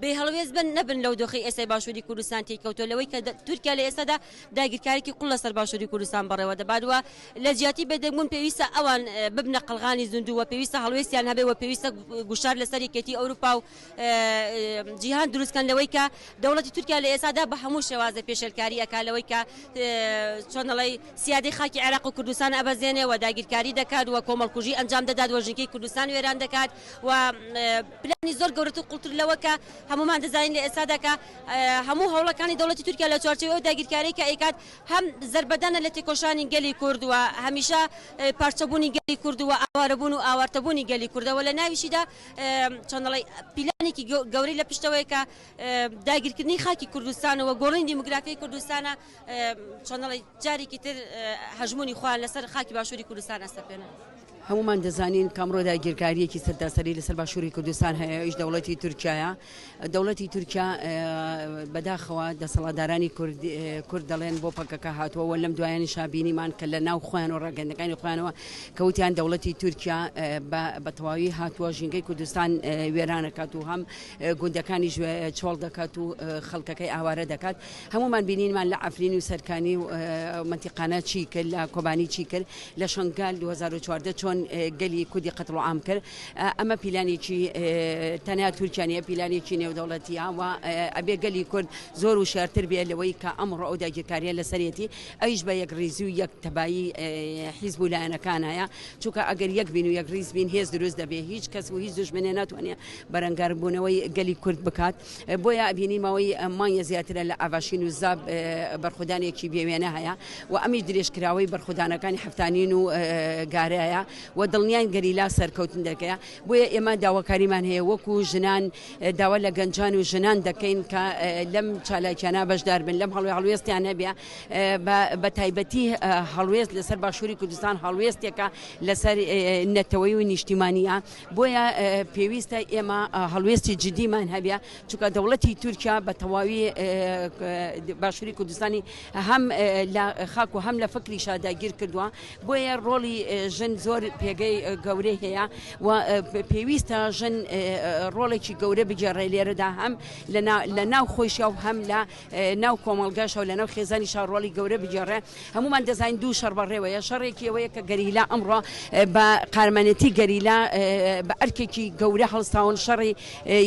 بێ هەڵوێست بن نەبن لەو دۆخەی ئێستای باشووری کوردستان تێی کەوتووە لەوەی کە تورکیا لە ئێستادا داگیرکاریی قووڵ لەسەر باشووری کوردستان بەڕێوە دەبات و لە جیاتی بێدەنگبوون پێویستە ئەوان ببنە قەڵغانی زیندوو و پێویستە هەڵوێستیان هەبێ و پێویستە گوشار لەسەر یەکێتی ئەوروپا و جیهان دروست کەن لەوەی کە دەوڵەتی تورکیا لە ئێستادا بە هەموو شێوازێ پێشێلکاری ئەکا لەوەی کە چۆن دەڵێی سیادەی خاکی عێراق و کوردستان ئەبەزێنێ و داگیرکاری دەکات و کۆمەڵکوژی ئەنجام دەدات و ژینگەی کوردستان وێران دەکات و پلانی زۆر گەورەتر و قوڵتر لەوە کە هەموومان دەزانین لە ئێستادا کە هەموو هەوڵەکانی دەوڵەتی تورکیا لە چوارچێوەی ئەو داگیرکاریەی کە ئەیکات هەم زەربەدانە لە تێکۆشانی گەلی کورد و هەمیشە پارچەبوونی گەلی کورد و ئاوارەبوون و ئاوارتەبوونی گەلی کوردە و لە ناویشیدا چۆن دەڵێی پیلانێکی گەورەی لە پشتەوەیە کە داگیرکردنی خاکی کوردستان و گۆڕینی دیموگرافیای کوردستانە. چۆنەڵی جارێکی تر هەژمونی خۆیان لەسەر خاکی باشووری کوردستان ئەسەپێنن. هەمومان دەزانین کامڕۆ داگیرکاریەکی سەرتاسەری لەسەر باشووری کوردستان هەیە ئیش دەوڵەتی تورکایە دەوڵەتی تورکیا بەداخەوە دەسەڵاتدارانی کورد دەڵێن بۆ پەکەکە هاتووەوە لەم دوایانی شابینیمان کە لە ناو خۆیان و ڕاگەندەکانی خۆیانەوە کەوتیان دەوڵەتی تورکیا بە تەواوی هاتووە ژینگەی کوردستان وێرانەکات و هەم گوندەکانی چۆڵ دەکات و خەڵکەکەی ئاوارە دەکات هەموومان بینینمان لە عەفرین و سەرکانی و منتیقانە چی کرد لە کۆبانی چی کرد لە شنگال 2014 چۆن گەلی کودی قەتڵ عام کرد ئەمە پیلانێکی تەنیا تورکیانە پیلانێکی نێودەوڵەتیە و ئەبێ گەلی کورد زۆر و شارتر بێ لەوەی کە ئەمڕۆ ئەو داگیرکاریە لەسەرەتی ئەیش بە یەک ریزی و یەک تەبایی حیزب و لایەنەکان هەیە چونکە ئەگەر یەک بین و یەک ریز بین هێز دروست دەبێ هیچ کەس و هیچ دژمنێ ناتوانێت بەرەنگاربوونەوەی گەلی کورد بکات بۆیە ئەبینی ماوەی مانگێ زیاترە لە ئاڤاشین و زاب بەرخودانێکی بێوێنە هەیە و ئەمیش درێژکراوەی بەرخودانەکانی هەفتانین و گارەیە و دڵنیان گەریلا سەرکەوتن دەکەیە بۆیە ئێمە داواکاریمان هەیە وەکو ژنان داوا لە گەنجان و ژنان دەکەین کە لەم چالاکیانە بەشدار بن لەم هەڵوێ هەڵوێستیان هەبێ بە تایبەتی هەڵوێست لەسەر باشووری کوردستان هەڵوێستێکە لەسەر نەتەوەی و نیشتیمانە بۆیە پێویستە ئێمە هەڵوێستی جدیمان هەبێ چونکە دەوڵەتی تورکیا بە تەواوی باشووری کوردستانی هەم لە خاک و هەم لە فکری شاداگیر کردووە بۆیە ڕۆڵی ژن زۆر پێگەی گەورەی هەیە و پێویستە ژن ڕۆڵێکی گەورە بگێڕێ لێرەدا هەم لە ناو خۆشیا و هەم لە ناو کۆمەڵگاش و لەناو خێزانیشا ڕۆڵی گەورە بگێڕێ هەموومان دەزانین دوو شەڕ بەڕێوەیە شەڕێکی ئەوەیە کە گەریلا ئەمڕۆ بە قارمانەتی گەریلا بە ئەرکێکی گەورە هەڵستاون شەڕی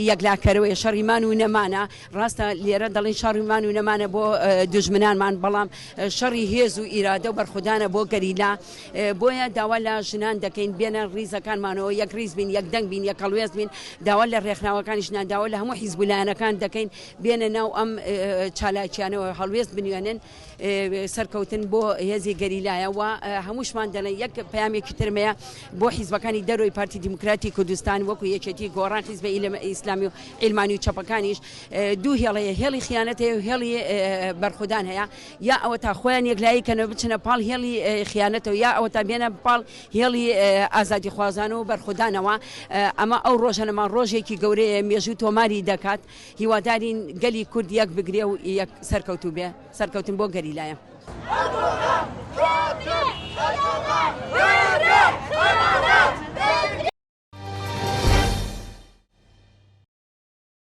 یەکلاکەرەوەی شەڕی مان و نەمانە ڕاستە لێرە دەڵین شەڕی مان و نەمانە بۆ دوژمنانمان بەڵام شەڕی هێز و ئیرادە و بەرخودانە بۆ گەریلا بۆیە داوا لە ژنان دەکەین بێنە ڕیزەکانمانەوە یەک ڕیز بین یەک دەنگ بین یەک هەڵوێست بین داوا لە ڕێکخراوەکانی ژنان داوا لە هەموو حیزب و لایەنەکان دەکەین بێنە ناو ئەم چالاکیانەوە هەڵوێست بنوێنن سەرکەوتن بۆ هێزی گەریلایە و هەمووشمان دەڵێن یەک پامێکی ترمەیە بۆ حیزبەکانی دەرۆی پارتی دیموکراتی کوردستان وەکو یەکێتی گۆڕان حیزبە ئیسلامی و ئیلمانی و چەپەکانیش دوو هێڵەیە هێڵی خیانەت هەیە و هێڵی بەرخودان هەیە یا ئەوە تا خۆیان یەکلایی کەنەوە بچنە پاڵ هێڵی خیانەتەوە یا ئەوە تا بێنە پاڵ هێڵی ئازادی خوازان و بەرخودانەوە ئەمە ئەو ڕۆژەنەمان ڕۆژێکی گەورەیە مێژوو تۆماری دەکات. هیوادارین گەلی کورد یەک بگرێ و یەک سەرکەوتوو بێ. سەرکەوتن بۆ گەریلایە.